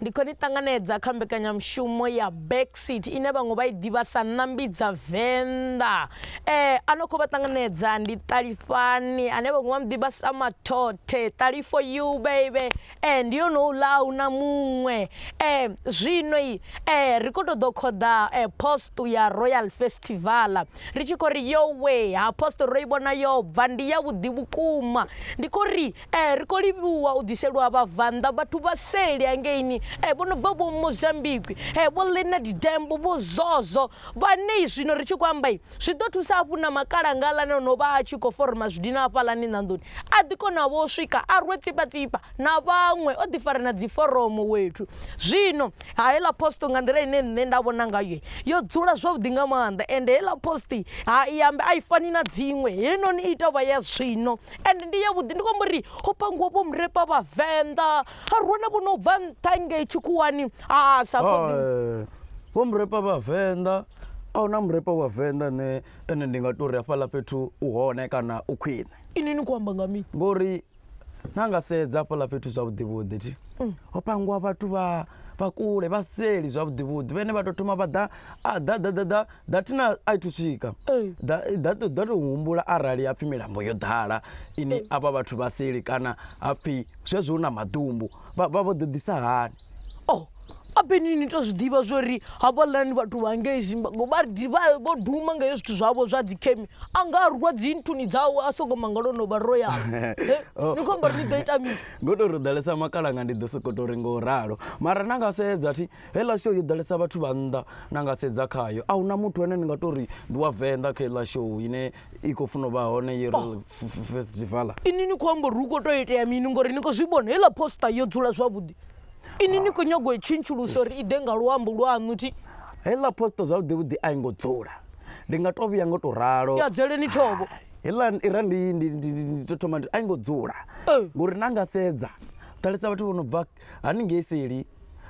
Ndi khou ni ṱanganedza kha mbekanyamushumo ya Backseat ine vhaṅwe vha i ḓivha sa Ṋambi dza Venḓa. Eh, a no khou vha ṱanganedza ndi Ṱalifhani ane vhaṅwe vha mu ḓivha sa Mathothe. Ṱalifho you baby. Eh, ndi yone houḽa a huna muṅwe. Eh, zwino i eh ri khou tou ḓo khoḓa eh post ya Royal Festival. Ri tshi khou ri yo we ha post ro i vhona yo bva ndi ya vhuḓi vhukuma. Ndi khou ri Ee, ri khou livhuwa u ḓiselwa vhabvannḓa vhathu vha seli hangeini ee, vho no bva vho Mozambique ee, vho Leonard Dembo, vho Zozo, vhane zwino ri tshi khou amba zwi ḓo thusa hafhu na makalanga aḽani o no vha a tshi khou foroma zwidina hafhaḽani ṋanḓoni a ḓi kona vho swika a rwe tsipatsipa na vhaṅwe o ḓi fara na dziforomo wethu. Zwino Heiḽa post nga nḓila ine nṋe nda vhona ngayo yo dzula zwavhuḓi nga maanḓa ende heiḽa post ha i ambe a i fani na dziṅwe heinoni i tovha ya zwino ende ndi ya vhuḓi ndi khou amba uri ho pangiwa vho murepa vha venḓa ha ruwana vho no bva nṱha ngei tshikhuwani ha sa khoḓi eh, vho murepa vha venḓa a huna murepa wa venḓa ne ene ndi nga tori hafhaḽa fhethu u hone kana u khwine ini ni khou amba nga mini ngori na nga sedza hafhaḽa fhethu zwavhuḓi vhuḓi thi mm. ho pangiwa vhathu vha vha kule vha seli zwavhuḓi vhuḓi vhene vha to thoma vha ḓa a ḓa ḓa ḓa ḓa ḓa thina a i thu swika ḓa ḓa to ḓa to humbula arali ha pfhi milambo yo ḓala ini avha vhathu vha seli kana ha pfhi zwezwo hu na maḓumbu vha vha vho ḓo ḓisa hani o a beni ni to zwi ḓivha zwori havhaḽani vhathu vha ngei zimbango vha vho duma nga hezwi zwithu zwavho zwa dzi khemi a nga rwa dzi nthuni dzawe a songo manga lwo no vha ro ya ni khou amba ri ni ḓo ita mini ngo to ri ḓalesa makalanga ndi ḓo soko to ri ngo ralo mara na nga sedza thi heḽa show yo ḓalesa vhathu vha nnḓa na nga sedza khayo a huna muthu ane ni nga to ri ndi wa venḓa kha heḽa show ine i khou funa u vha hone year oh. festival ini ni khou amba uri hu khou tou itea mini ngori ni khou zwi vhona heiḽa poster yo dzula zwavhuḓi ini ni khou nyago i tshintshulusa uri i ḓe nga luambo lwaṋu thi heiḽa poster zwavhuḓivhuḓi a i ngo dzula ndi nga tou vhuya ngo tou ralo ya dzuleni thobo heiḽa ira ndi tou thoma a i ngo dzula eh. ngori na nga sedza ṱalisa vhathu vho no bva haningei seli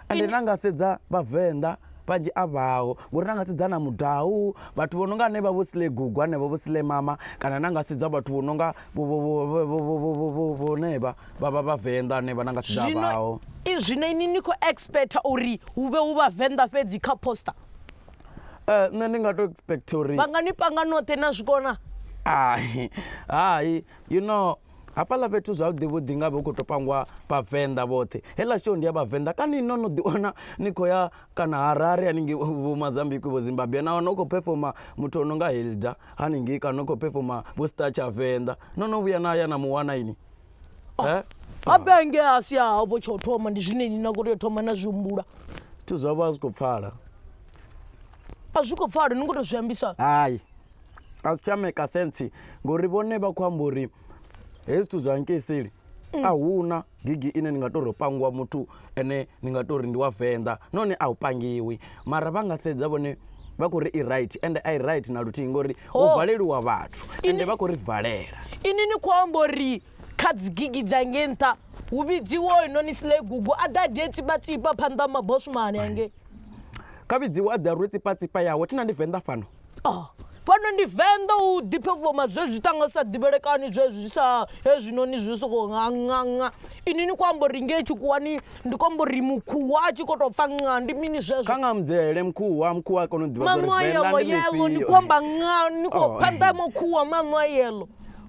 ende na nga sedza vhavenḓa vhanzhi a vhaho ngori na nga sedza na mudau vhathu vho no nga hanevha vho sle gugu hanevho vho sle mama kana na nga sedza vhathu vho no nga vhonevha vha vha vhavenḓa hanevha na nga sedza vhaho zwino ini ni khou expect uri hu vhe hu vhavenḓa fhedzi kha poster eh nṋe ndi nga to expect uri vha nga ni panga noṱhe na zwikona hai hai you know Hafhaḽa fhethu zwavhuḓivhuḓi nga vhe hu khou tou pangiwa vhavenḓa vhoṱhe heiḽa show ndi ya vhavenḓa kani no no ḓiwana ni khou ya kana harare haningei vho mazambikwi vho zimbabwe na wana u khou phefoma muthu o no nga hilda haningei kana u khou phefoma vho star tshavenḓa no no vhuya na ya na mu wana ini eh? a benge a si a vho tsho thoma ndi zwine ni na khou tea u thoma na zwi humbula zwithu zwavho a zwi khou pfala a zwi khou pfala ni ngo to zwi ambisa hai a zwi tsha maker sense ngori vhone vha khou amba uri hezwi zwithu zwa nkiseli a huna gigi ine ni nga tori ho pangiwa muthu ene ni nga tori ndi wa venḓa nahone a u pangiwi mara vha nga sedza vhone vha khou ri i right ende a i right na luthihi ngori ho Oh. valeliwa vhathu ende vha khou ri valela ini ni khou amba uri kha dzi gigi dza nge nṱha hu vhidziwe hoyunoni sle gugu a ḓa de tsipatsipa phanḓa ha mabosumane ange kha vhidziwe a ḓa rwe tsipatsipa yawe thina ndi venḓa fhano Oh, fhano ndi venḓa u ḓiphefoma zwe zwi tanga sa ḓivhelekani zwe zwi sa hezwinoni zwi soko nganganga ini ni khou amba uri ngei tshikhuwani ndi khou amba uri mukhuwa a tshi khou tou pfa nga ndi mini zwezwo kha nga mudzele mukhuwa mukhuwa a kona u ḓivha zwauri venḓa ndi yelo ni khou amba nga ni khou oh. phanḓa mukhuwa maṋo a yelo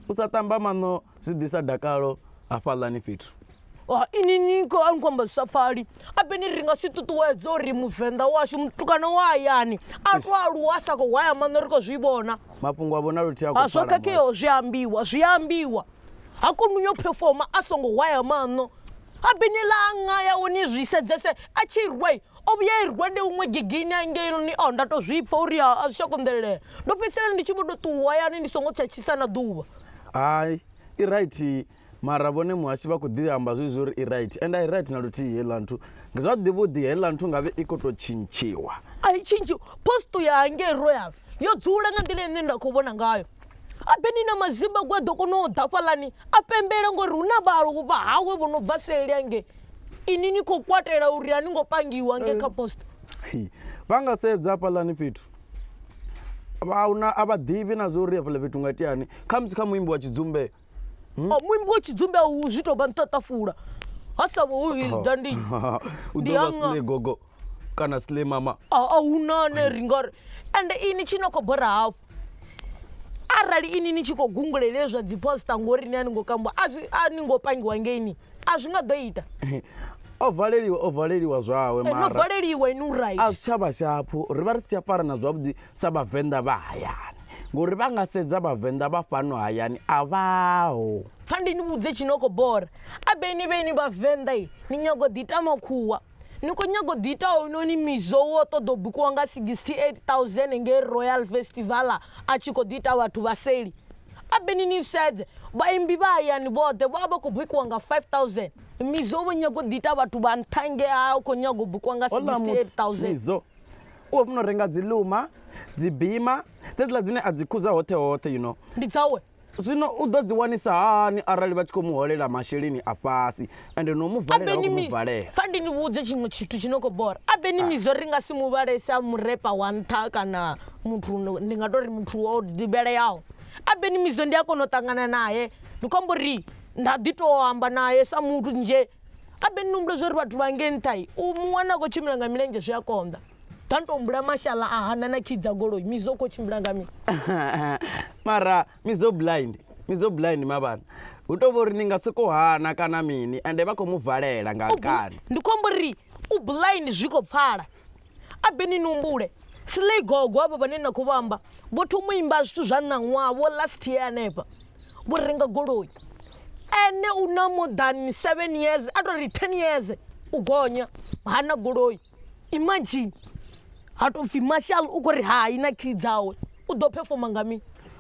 u sa ṱamba maṋo zwi ḓisa dakalo hafhaḽani fhethu ha ini ni khou a ni khou amba zwi sa pfali ambeni ri nga si ṱuṱuwedze uri muvenḓa washu mutukana wa hayani a to aluwa a sa khou hwaya maṋo ri khou zwi vhona mafhungo a vhona luthihi a ha khou zwo pfala khakheaho boss. zwi a ambiwa zwi a ambiwa ha koni uyo phefoma a songo hwaya maṋo ambeni ḽa anga yawe ni zwi sedzese a tshi rwa i, o vhuya i rwa ndi huṅwe gigini angeini o nda to zwi pfha uri ha a zwi tsha konḓelelea ndo fhedzisela ndi tshi vho to ṱuwa hayani ndi songo tsha tshisa na ḓuvha hai i right Mara vhone muhashi vha khou ḓi amba zwezwi uri i right and a i right na luthihi heiḽa nthu ndi zwa ḓivha u ḓi heiḽa nthu ngavhe i khou tou tshintshiwa a i tshintshiw posto ya hangei royal yo dzula nga nḓila ine nda khou vhona ngayo abeni na mazimba gwa ḓo kona u ḓa fhaḽani a pembela ngori hu na vhaaluwo vha hawe vho no bva seli hangei ini ni khou kwatela uri a ni ngo pangiwa hangei kha posto Hi. vha nga sedza hafhaḽani fhethu vha una a vha ḓivhi na zwa uri hafhaḽa fhethu nga itiani khamusi kha muimbi wa tshidzumbe hmm? oh, muimbi wa tshidzumbe a u zwi tou vha nṱaṱafula ha sa vho u hilda ndi u ḓo vha sile gogo kana sile mama a hu na ne ri nga ri ende ini tshi no khou bora hafhu arali ini ni tshi khou gungulele zwa dzi posta ngori ni a ni ngo kamba a zwi a ni ngo pangiwa ngeini a zwi nga ḓo ita o valeliwa o valeliwa zwawe eh, mara no valeliwa inu right a zwi tsha vha shaphu ri vha ri si tsha farana zwavhuḓi sa vhavenḓa vha hayani ngori vha nga sedza vhavenḓa vha fhano hayani a vhaho pfa ndi ni vhudze tshinoko bora a beni vheni vhavenḓa i ni nyago ḓi ita makhuwa ni khou nyago ḓi ita hounoni mizo wo ṱoḓa u bikiwa nga 68000 ngei royal festival a tshi khou ḓi ita vhathu vha seli a beni ni sedze vhaimbi vha hayani vhoṱhe vho vha vha khou bikiwa nga 5000 mizo vho nyago ḓi ita vhathu vha nṱha ngea u khou nyago u bikiwa nga 68000 u khou funa u renga dzi luma dzi bima dzedziḽa dzine a dzi khuza hoṱhe hoṱhe you know ndi dzawe zwino u ḓo dzi wanisa hani arali vha tshi khou mu holela masheleni a fhasi ende no mu valela vha khou mu valela fa ndi ni vhudze tshiṅwe tshithu tshi no khou bora a beni mi zwo ri nga si mu vhale sa murepa wa nṱha kana muthu ndi nga tou ri muthu o ḓivheleaho a beni mi zwo ndi a kona u ṱangana naye ndi khou amba uri nda ḓi tou amba naye sa muthu nzhe abe ni humbule zwori vhathu vha nge nṱha u mu wana a khou tshimbila nga milenzhe zwi a konḓa ta ni tou humbula mashala a hana na kii dza goloi mizo khou tshimbila nga mini mara mizo blind mizo blind mavhana hu tou vha uri ni nga sokou hana kana mini ende vha khou mu valela nga kani ndi khou amba uri u blind zwi khou pfala a be ni numbule slay gogo avho vhane na khou vha amba vho thoma u imba zwithu zwa ṋaṅwaha vho last year hanefha vho renga goloi ene u na more than seven years a tou ri ten years u gonya ha na goloi imagine ha tou pfhi marshal u khou ri hai na key dzawe u ḓo performa nga mini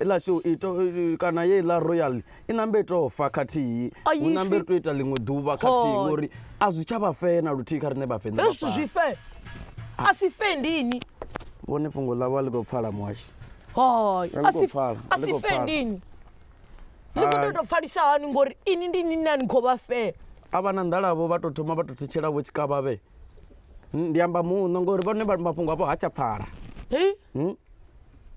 Iḽa shou i to, kana yeiḽa royal i nambe i tou fa khathihi A hu yi nambe fi. ri tou ita ḽiṅwe ḓuvha khathihi Hoi. ngori a zwi tsha vha fee na luthihi kha riṋe vhavenḓa Hezwi zwithu zwi vhafha fe. A si fe ndini. vhone fhungo ḽavho a ḽi khou pfala muhashi Hoi. A ḽi A khou si pfala, a a ḽi si khou fe pfala. ndini. Ni kho Hai. tea u tou pfalisa hani ngori ini ndi ni na ni khou vha fe. a vha na nḓalavho vha tou thoma vha tou thitshela vho tshikavhavhe ndi amba muṋo ngori vhone vha- mafhungo avho ha tsha pfala Hei. Hmm?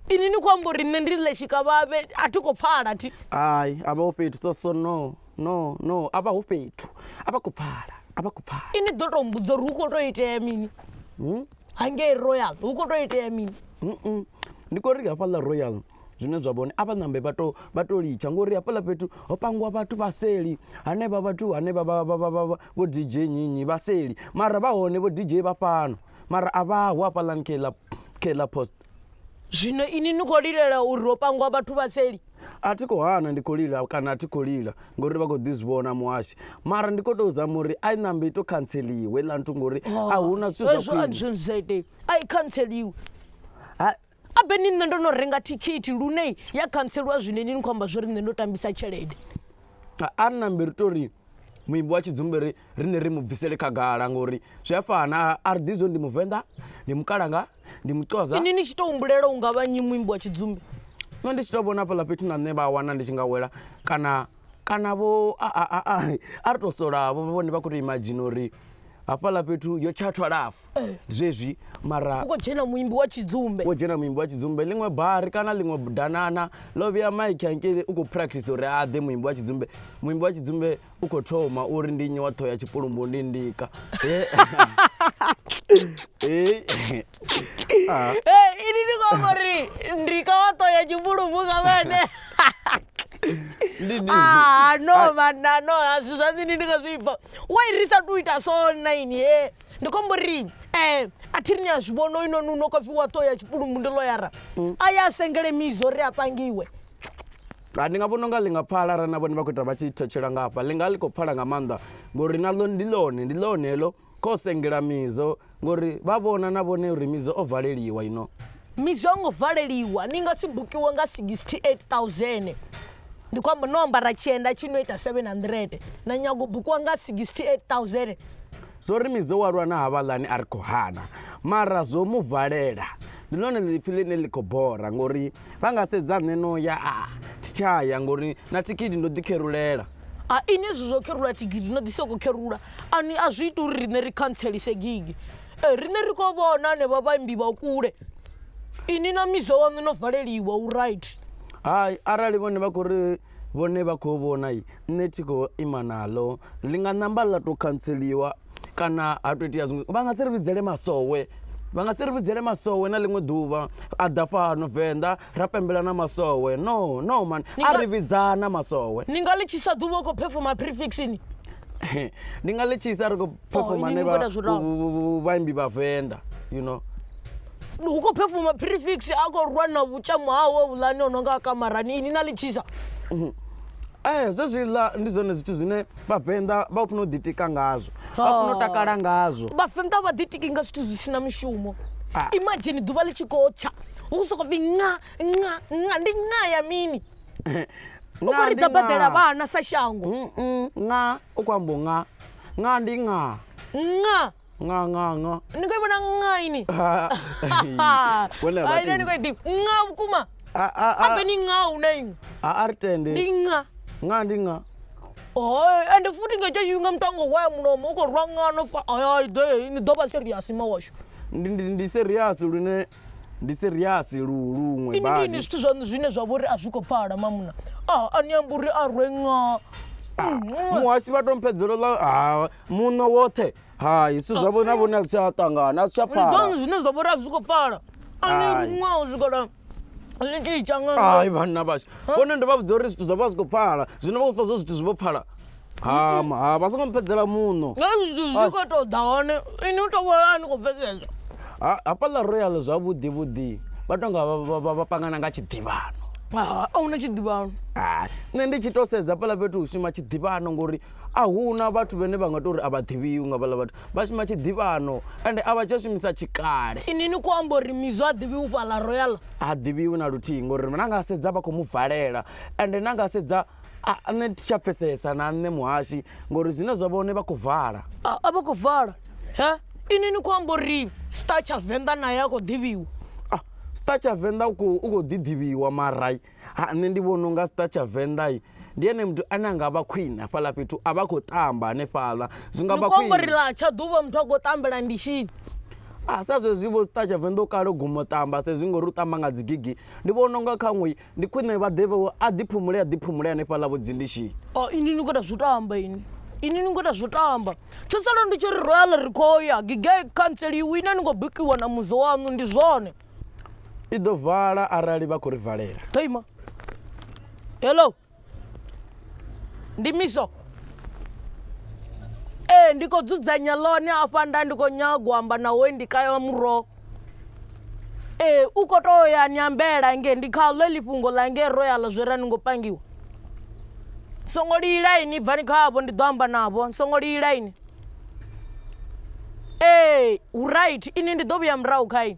ini ni khou amba uri nṋe ndi ḽe tshikavhavhe a thi khou pfala thi hai a vha ho fhethu so so no no no a vha ho fhethu a vha khou pfala a vha khou pfala ini ḓo tou mbudzo uri hu khou tou itea mini hmm? hangei royal hu khou tou itea mini ndi khou ri hafhaḽa royal zwine zwa vhone a vha ṋambe vha to vha to litsha ngori hafhaḽa fhethu ho pangiwa vhathu vha seli hanevha vhathu hanevha vho dj nyinyi vha seli mara vha hone vho dj vha fhano mara a vhaho hafhaḽani kheḽa kheḽa post Zwino inwi ni khou lilela uri ho pangwa vhathu vha seli? A thi khou hana ndi khou lila kana a thi khou lila ngori vha khou ḓi zwi vhona muhashi mara ndi khou tou zama uri a i ṋambe i tou khantseliwe iḽa nthu ngori oh, a hu na zwithu zwa khwine. Hezwo a zwi ite a i khantseliwe abe ni nṋe ndo no renga thikhithi lune ya khantseliwa zwine ni ni khou amba zwo ri nṋe ndo tambisa tshelede a ri nambe ri to ri muimbi wa tshidzumbe ri riṋe ri mu bvisele khagala ngori zwi a fana a ri ḓi zwo ndi muvenḓa ndi mukalanga ndi muxosa ini ni tshi tou humbulela u nga vha nyi muimbi wa tshidzumbe nṋe ndi tshi tou vhona fhaḽa fhethu na nṋe vha wana ndi tshi nga wela kana kana vho a ri tou solavho vhone vha khou tou imadzhina uri hafhaḽa fhethu yo tshathwa lafu eh. ndi zwezwi mara u khou dzhena muimbi wa tshidzumbe wo dzhena muimbi wa tshidzumbe ḽiṅwe bari kana ḽiṅwe danana ḽo vhuya mike hangei u khou practice uri a ḓe muimbi wa tshidzumbe muimbi wa tshidzumbe u khou thoma uri ndi nnyi wa ṱhoho ya tshipulumbu ndi ndika ah. ini ndi khou amba uri ndika wa ṱhoho ya tshipulumbu nga vhene Ah, no vana no hazwi zwa nṋe ndi ndi nga zwi pfa wai ri sa tu ita so nine ye ndi khou amba uri um a thi ri ni a zwi vhona oinoni u no khou pfi wa ṱo ya tshipulumbu ndi loyara a ya a sengele mizo uri a pangiwe Ah, ndi nga vhona unga ḽi nga pfala arali na vhone vha khou ita vha tshi thetshela nga hafha ḽi nga ḽi khou pfala nga maanḓa ngori naḽo ndi ḽone ndi ḽone heḽo kho sengela mizo ngori vha vhona na vhone uri mizo o valeliwa ino mizo a ngo valeliwa ni nga si bukiwe nga 68000 ndi khou amba no ambara tshienda tshi no ita 700 na nyago u bukiwa nga 68000 Zwo ri Mizo wa lwa na havhaḽani a ri khou hana, mara zwo mu valela. Ndi ḽone ḽiipfi ḽine ḽi khou bora ngori vha nga sedza nṋe no ya a thi tsha ya ngori na thikhithi ndo ḓi kherulela. A inwi hezwi zwo kherula thikhithi no ḓi soko kherula ani a zwi ita uri riṋe ri khantselise gigi. Ee riṋe ri khou vhona hanevha vhaimbi vha kule inwi na Mizo waṋu no valeliwa u right. Hai arali vhone vha khou ri. Vhone vha khou vhona nṋe thi khou ima naḽo ḽi nga ṋamba ḽa to khantseliwa kana ha to itea zwiṅwe vha nga si ri vhidzele masowe vha nga si ri vhidzele masowe na ḽiṅwe ḓuvha a ḓa fhano venḓa ra pembela na masowe no no mani a ri vhidza na masowe ni nga ḽi tshisa ḓuvha u khou phefoma prefixini ndi nga ḽi tshisa ri khou phefoma ne vha- vha- vhaimbi vha venḓa you know hu khou phefuma prefix a khou rwa na vhutshamo hawe vhulani o no nga kamarani ini na litshisa ee zwezwiḽa ndi zwone zwithu zwine vhavenḓa vha funa u ḓitika ngazwo vha funa u takala ngazwo vhavenḓa vha ḓitiki nga zwithu zwi si na mushumo Ah. imagine ḓuvha ḽi tshi khou tsha hu khou sokou pfi nga nga nga ndi nga ya mini u Nga khou ri ndi ḓa badela nga. vhana sa shango Mm, mm, nga u khou ambo nga nga ndi nga nga nga nga nga ni khou i vhona nga ini Vhone a vha ai nani khou i tendi. ḓivha nga vhukuma a a a abe ni nga hu na iṅwe a a ri tende ndi nga nga ndi nga Hoi, ende futhi nga hetsho tshifhinga muthu a ngo waya mulomo u khou rwa ngano fa ayai ḓe ni ḓo vha serious ma washu ndi ndi ndi serious lune ndi siriasi luṅwe ini badi ini zwithu zwaṋu zwine zwa vhori a zwi khou pfala mamuna a a ni amba uri a rwe nga muhasi vha to mphedzelo ḽa ha muno woṱhe hai zwithu zwavho na vhone a zwi tsha ṱangana a zwi tsha ndi pfala zwaṋu zwine zwa vhori a zwi khou pfala a ni Hai. ruṅwa u swikela ni tshi ita nga hai vhanna vhashu vhone ndo vha vhudza uri zwithu zwa vha zwi khou pfala zwino vha khou pfa zwo zwithu zwi vho pfala ha ma- ha vha songo mpedzela muṋo nga zwithu zwi khou tou ḓa hone ini u tou vhona a ni khou pfesesa Ha- hafhaḽa royal zwavhuḓi vhuḓi vha tonga vha- vha- vha- vha pangana nga tshiḓivhano Ah, a huna tshiḓivhano Hai. nṋe ndi tshi to sedza fhaḽa fhethu hu shuma tshiḓivhano ngori a huna vhathu vhene vha nga tou uri a vha ḓivhiwi nga vhaḽa vhathu vha shuma tshiḓivhano ende a vha tsha shumisa tshikale ini ni khou amba uri mizwa a ḓivhi u fhaḽa royal ha ḓivhiwi na luthihi ngori na nga sedza vha khou mu valela ende na nga sedza A nṋe thi tsha pfesesa na nṋe muhasi ngori zwine zwa vha hone vha khou vala. A vha khou vala he ini ni khou amba uri Star tsha venḓa nae a khou ḓivhiwa. A Star tsha venḓa u kho u kho ḓi ḓivhiwa mara ha nṋe ndi vhona unga Star tsha venḓa ndi ene muthu ane anga vha khwine hafhaḽa fhethu a vha a khou tamba hanefhaḽa zwi nga vha khwine. Ni khou amba uri ḽa tsha ḓuvha muthu a khou tambela ndishini. A sa zwezwi vho Star tsha venḓa u kale u guma u tamba sa izwi ngori u tamba nga dzi gigi ndi vhona unga khaṅwe. Ndi khwine vha ḓe vho a ḓiphumule a ḓiphumule hanefhaḽa vho dzindishini. Oh ini ni khou ita zwo tamba ini. Ini ni khou ita zwo tamba. Tsho sala ndi tshi ri Royal ri khou ya gigei khantseli i wina ni khou bikiwa na muzo waṋu ndi zwone. I ḓo vala arali vha khou ri valela. Ḓo ima. Hello. ndi misho ee ndi khou dzudzanya ḽone afha nda ndi khou nyaga u amba na we ndi kaya wa muroho ee u khou tou ya ni ambela nge ndi kha ḽo ḽi fhungo ḽa nge ro ya ḽa zwi ra ni ngo pangiwa songo lila ini bvani khavho ndi ḓo amba navho songo lila ini ee hu right ini ndi ḓo vhuya murahu kha ini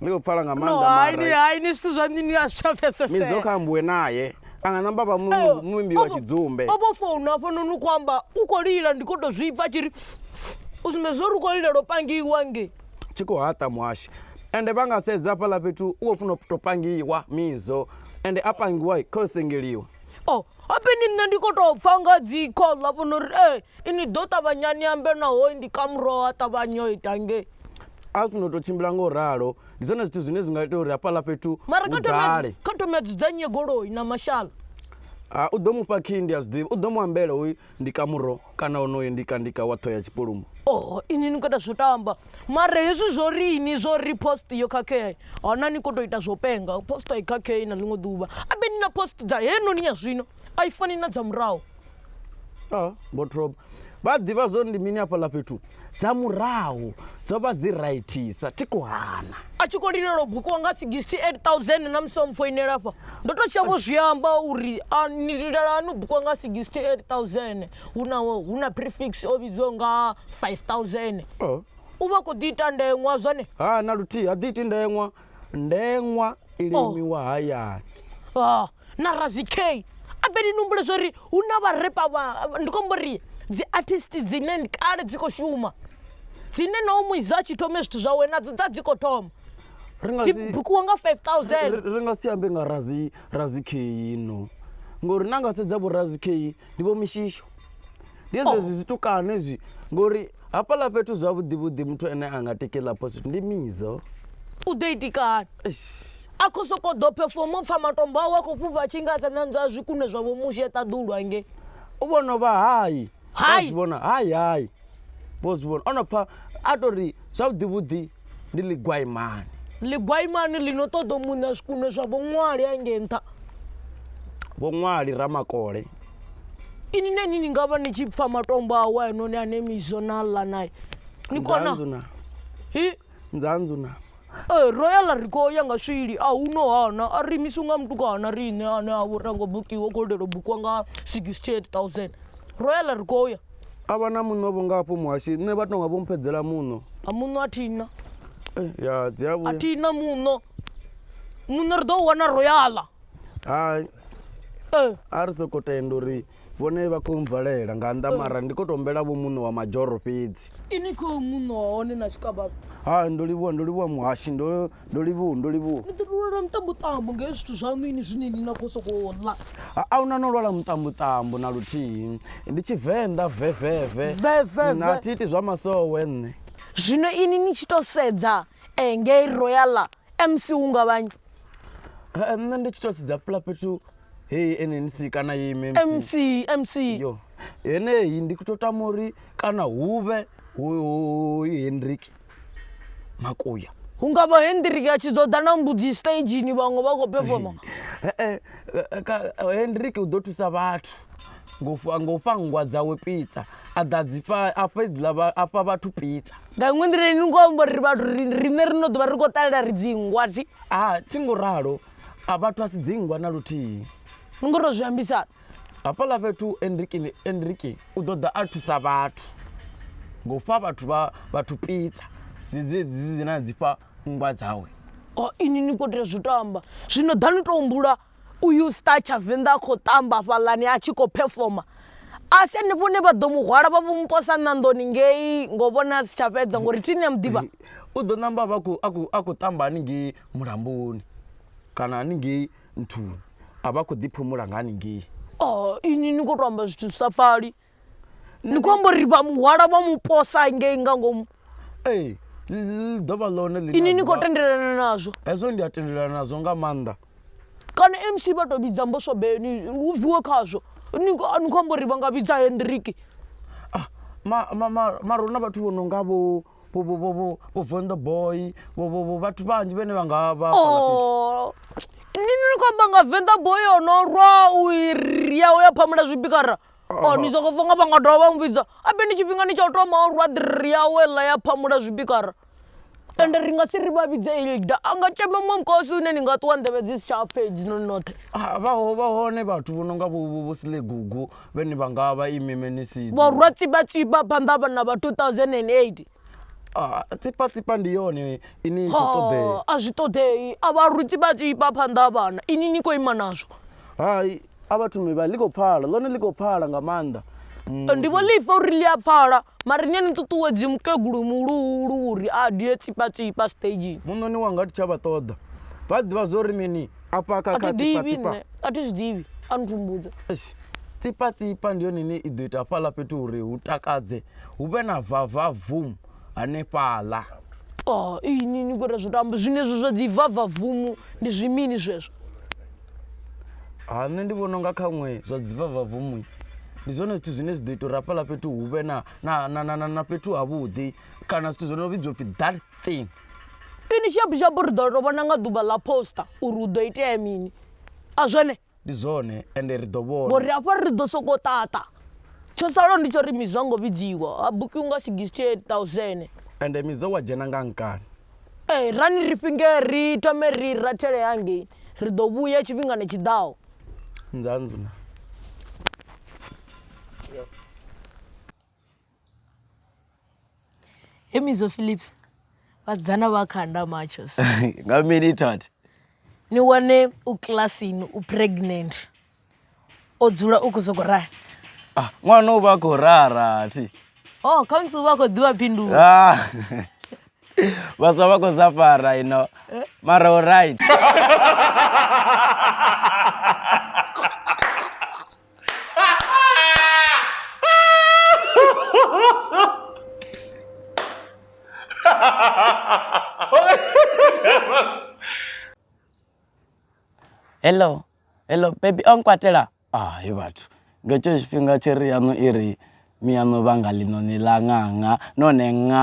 ndi khou pfala nga no maanḓa haini mara haini zwithu zwa nini a zwi tsha midzi pfesesea yo khambuwe naye a nga namba vha mu- muimbi wa tshidzumbe opo founu afho noni u khou amba u khou lila ndi khou tou zwi pfa tshi ri u sumbedza zwo ri u khou lila lwo pangiwa nge tshi khou haṱa muhashi ende vha nga sedza hafhaḽa fhethu u khou funa u tou pangiwa mizo ende a pangiwa kha u sengeliwa o Hafheni nṋe ndi kho to pfha nga dzi call ha vhona uri ee ini ḓo ṱavhanya ni ambe naho ndi ka muroho ha ṱavhanya o ita nge a zwi no to tshimbila nga u ralo ndi zwone zwithu zwine zwi nga ita uri hafhaḽa fhethu mara kha thome kha thome dzudzanye goloi na mashala u ḓo mufha khindi a zwiḓivha u ḓo mu ambela hoyu Ndi ka muro kana onoyo ndi ka ndi ka wa ṱhoya tshipulumo. Oho inwi ni khou ita zwo tamba mara hezwi zwo ri ini zwo ri post yo khakhea hana ni khou tou ita zwo penga post a i khakhei na ḽiṅwe ḓuvha abe ni na post dza heinoni ya zwino a i fani na dza murahu. Vho Throb vha a ḓivha zwo ri ndi mini hafhaḽa fhethu? Dza murahu dzo vha dzi raithisa, thi khou hana. A tshi khou lilela u bukiwa nga 68000 na musi o mpfoinela afha ndo tou tsha vho zwi amba uri a ni lilela hani u bukiwa nga 68000 hu na hu na prefix o vhidzwa nga 5000 Oh. u vha khou ḓi ita ndeṅwa zwone Ha na luthihi ha ḓi iti ndeṅwa. Ndeṅwa i limiwa hayani. ah na Ra-Z-Kay. I bet ni humbule zwa uri hu na vharepa vha ndi khou amba uri dzi artist dzine ndi kale dzi khou shuma dzine na hoyu muiza a tshi thome zwithu zwawe nadzo dza dzi khou thoma ri nga dzi si bukiwa nga 5000 ri- ri nga si ambe nga razi razi kheyi no ngori na nga sedza vho razi kheyi ndi vho mishisho ndi hezwo zwi zwitukano hezwi ngori hafhaḽa fhethu zwavhuḓi vhuḓi muthu ane a nga tikela position ndi mizo u ḓo itikana Eish. a khou sokou ḓo phefomo pfa matombo awe a khou fhufha a tshi nga a sa nanzwa zwikunwe zwa vhomushi a ṱaḓulwa nge u vhono vha hai Hai. Vho zwi vhona hai hai vho zwi vhona o no pfa a tori zwavhuḓi vhuḓi ndi ḽigwaimani ḽigwaimani ḽi no ṱoḓa u muṋa zwikuno zwa vhoṅwali a nge nṱha vhoṅwali ramakole ini neni ni nga vha ni tshi pfa matombo awe anoni ane mizo na ḽa nae ni kona hi nzanzu na ee ro ya ḽa ri khou ya nga swili a hu no hana a ri imisu nga mutukana riṋe ane a vho rango bukiwa khou lindela u bukiwa nga 68000 ro ya ḽa ri khou ya A vha na muṋo vho nga hafho muhashi nṋe vha tonga vho mphedzela muṋo a muṋo a thina eh, ya dzi a vhuya thina muṋo muṋo ri ḓo wana royala hai eh. a ri soko tenda uri vhone vha khou mvalela nga nnḓa eh. mara ndi khou tou humbela vho muṋo wa madzhoro fhedzi ini khou muṋo wa hone na tshikabalo hai ndo livhuwa ndo livhuwa muhashi ndo ndo livhuwa ndo livhuwa ni ḓo lwala muṱambuṱambu nga zwithu zwaṋu ini zwine ni na khou sokou ḽa a una no lwala muṱambuṱambu na luthihi ndi tshivenḓa veveve na thi iti zwa masowe nṋe zwino ini ni tshi tou sedza eh, ngei royala mc hu nga vhanyi eh, nṋe ndi tshi tou sedza pula fhethu heyi nnc kana yi mc mc yo heneyi ndi kuto tama uri kana huvhe hu henriki makuya hu nga vha hendrik a tshi ḓo ḓa na mbudzi stagini vhaṅwe vha khou pefoma eh, eh, eh, hendrik u ḓo thusa vhathu ngo fha nngwa dzawe pizza a ḓa dzifha a fha vhathu pizza nga iṅwe nḓila ni ngo amba uri vhathu riṋe ri no ḓovha ri khou ṱalela ri dzingwa ti a thi ngo ralo a vhathu a si dzingwa na luthihi ni ngo to zwi ambisana Hafhaḽa fhethu Enrique, Enrique u ḓo ḓa a thusa vhathu nga u fha vhathu vha vhathu pizza dzedzi dzine a dzi fha nngwa dzawe. Oh, ini ni khou tea zwi tamba zwino ḓa ni tou humbula uyu star tshavenḓa a khou tamba hafhaḽani a tshi khou phefoma a si hanefho hune vha ḓo mu hwala vha vho mu posa ṋanḓoni ngei ngo vhona a si tsha fhedza ngori thini ya mu ḓivha u ḓo namba a khou tamba haningei mulamboni kana haningei nthuni, a vha khou ḓiphumula nga haningei. Oh, inwi ni khou tou amba zwithu zwi sa pfali. Ni khou amba uri vha mu hwala vha mu posa ngei nga ngomu. Ee, ḽi ḓo vha ḽone ḽine. Inwi ni khou tendelana nazwo. Hezwo ndi a tendelana nazwo nga maanḓa. Kana MC vha tou vhidza mboswa beni hu bviwe khazwo. Ni khou amba uri vha nga vhidza Hendriki. Ah, ma, ma, ma, mara hu na vhathu vho no nga vho vho vho vho vho vho vonda boy vho vho vho vhathu vhanzhi vhene vha nga vha hafhaḽa fhethu. Oh. Ni ni khou amba nga venḓa boy o no rwa u iri yawe ya phamula zwibikara o ni songo funga vha nga dovha vha mu vhidza a be ni tshifhingani tsha u thoma o rwa ḓiri yawe ḽa ya phamula zwibikara ende ri nga si ri vha vhidze ilda a nga tshema muṅwe mukosi une ni nga ṱuwa nḓevhe dzi si tsha pfha hedzinoni noṱhe Ah, vha ho- vha hone vhathu vho no nga vho vho- vho silegugu vhe ni vha nga vha imi menisidzi vhorwa tsipatsipa phanḓa vha- na vha 2008 Ah, tsipatsipa ndi yone ine i khou ṱoḓea Ha, a zwi ṱoḓei a vha rwi tsipatsipa phanḓa ha vhana ini ni khou ima nazwo hai a vha thumi vha ḽi khou pfala ḽone ḽi khou pfala nga maanḓa Mm, ndi vho ḽifa uri ḽi a pfala mara ni a ni ṱuṱuwedzi mukegulu muhuluhulu uri a die tsipatsipa stagini muṋoni wanga thi tsha vha ṱoḓa vha ḓivha zwo ri mini afha a thi khakha ḓivhi tsipatsipa nṋe a thi zwi ḓivhi a ni thumbudza Eish, tsipatsipa ndi yone ine i ḓo ita hafhaḽa fhethu uri hu takadze hu vhe na vava vum hanefhaḽa Oh, iyi ni ni kora zwo tamba zwine zwo zwa dzi vava vumu ndi zwimini zwezwo ha nṋe ndi vhona unga khaṅwe zwa dzivava vumui ndi zwone zwithu zwine zwi ḓo ita uri hafhaḽa fhethu hu vhe na- na- na- na- na- na fhethu havhuḓi kana zwithu zwo no vhidzwa upfhi dark thing. Finish yap yap ri ḓo to vhona nga ḓuvha ḽa poster uri hu ḓo itea mini a zwone ndi zwone ende ri ḓo vhona ngori hafha ri ḓo soko ṱaṱa tsho salaho ndi tsho ri mizwa ngo vhidziwa ha bukiwa nga 68000 ende mizo wa dzhena nga nkani ee eh, rani ri fhinge ri thome ri rathele hangei ri ḓo vhuya tshifhingani tshiḓaho nzanzuna he mizo philips vhasidzana vha khanda machos nga mini tat ni wane u kilasini u pregnant o dzula u khou soko raha ah, ṅwana u vha a khou raha rathi o oh, khamusi u vha a khou ḓivha phindulo ah. vhaswa vha khou sa fara ino mara o right hello hello bebi o nkwatela hai vhathu nga tsheo tshifhinga tshiri yaṋu i ri Miano vha nga ḽiṋoni ḽa ṅaṅa, nahone ṅa.